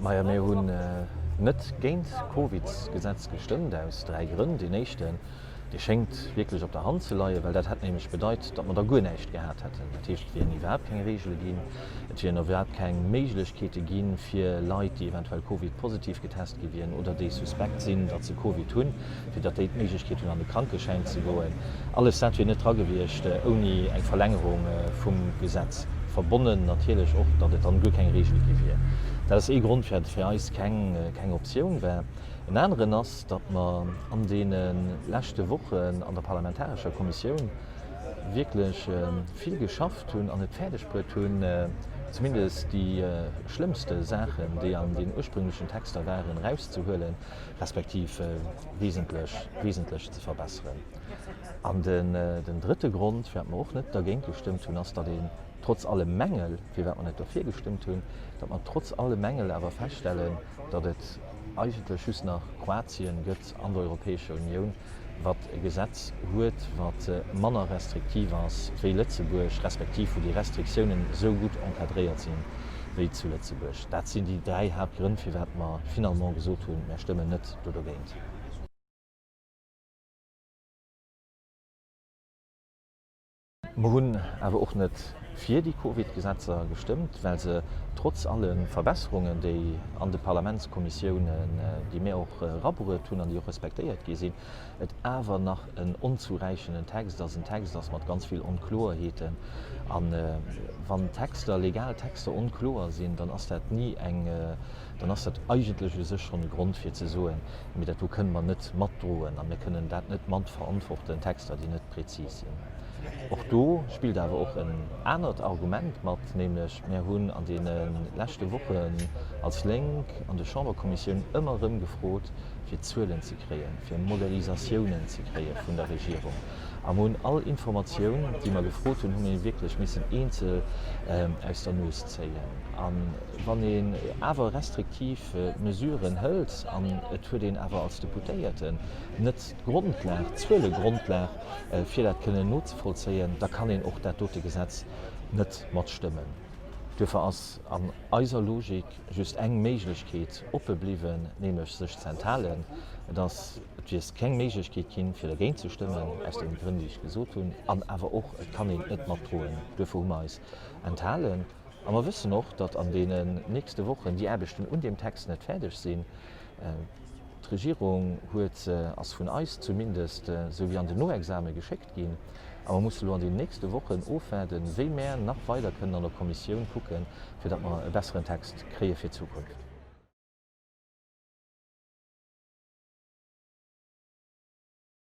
Maja mir hunn net géint d'Covidsgesetz gestëmmt aus dräi Grënn. Deen éischten, dee schéngt wierklech op der Hand ze leien, well dat hätt nämlech bedeit, datt mer da guer näischt gehat hätten. Dat heescht, et wieren iwwerhaapt keng Reegele ginn, et wieren iwwerhaapt keng Méiglechkeete ginn, fir Leit, déi eventuell Covid-positiv getest gi wieren oder déi suspekt sinn, datt se Covid hunn, fir datt déi d'Méiglechkeet hunn an de Krankeschäin ze goen, alles dat wier net dra gewiescht ouni eng Verlängerung vum Gesetz verbonnen. Natierlech och, datt et dann guer keng Reegel gi wier. Dat ass ee Grond, firwat et fir eis keng Optioun war. En aneren ass, datt mer an deene leschte Wochen an der parlamentarescher Kommissioun wierklech vill geschafft hunn an et fäerdegbruet hunn, zumindest déi schlëmmste Saachen, déi an den ursprünglechen Texter waren, erauszehuelen. respektiv wesentlech ze verbesseren. An den drëtte Grond, firwat mer och net dergéint gestëmmt hunn, ass, datt een trotz alle Mängel, firwat mer net dofir gestëmmt hunn, datt mer trotz alle Mängel awer feststellen, datt et eigentlech just nach Kroatien gëtt an der Europäescher Unioun, wat e Gesetz huet, wat manner restriktiv ass wéi Lëtzebuerg, respektiv wou déi Restriktiounen esou gutt encadréiert sinn wéi zu Lëtzebuerg. Dat sinn déi dräi Haaptgrënn, firwat mer finalement gesot hunn, Mir stëmmen net do dogéint. Mer hunn awer och net fir déi Covid-Gesetzer gestëmmt, well se trotz alle Verbesserungen, déi an de Parlamentskommissiounen, déi mir och erabruet hunn an déi och respektéiert gi sinn, et awer nach en onzuräichenden Text ass, en Text ass mat ganz vill Onkloerheeten. A wann Texter, legal Texter onkloer sinn, dann ass dat ni eng. dann ass dat eigentlech u sech schonn e Grond fir ze soen, mee dat do kënnen mer net matdroen a mir kënnen dat net matverantworten, Texter, déi net prezis sinn. Och do spillt awer och en anert Argument mat, nämlech mir hunn an deene leschte Wochen als Lénk an de Chamberkommissioun ëmmer erëm gefrot, fir Zuelen ze kréien, fir Modélisatiounen ze kréie vun der Regierung. A mir hunn all Informatioun, déi mer gefrot hunn, hu mir wierklech missen eenzel aus der Nues zéien. Wann een awer restriktiv Mesuren hëlt an et huet een awer als Deputéierten net d'Grondlag, d'Zuelegrondlag, fir dat kënnen nozevollzéien, da kann een och dat dote Gesetz net matstëmmen. Duerfir ass an eiser Logik just eng Méiglechkeet oppe bliwwen, nämlech sech ze enthalen. Et ass, et wier keng Méiglechkeet ginn, fir dergéint ze stëmmen, aus deene Grënn, déi ech gesot hunn, an awer och, et kann een et net matdroen. Duerfir hu mer eis enthalen. A mer wëssen och, datt an deenen nächste Wochen déi Aarbechten un deem Text net fäerdeg sinn. D'Regierung huet se, ass vun eis zumindest esou wéi an den Noexame geschéckt ginn, a mer mussen elo an deenen nächste Wochen ofwaarden, wéi mär nach weider kënnen an der Kommissioun kucken, fir datt mer e besseren Text kréie fir d'Zukunft.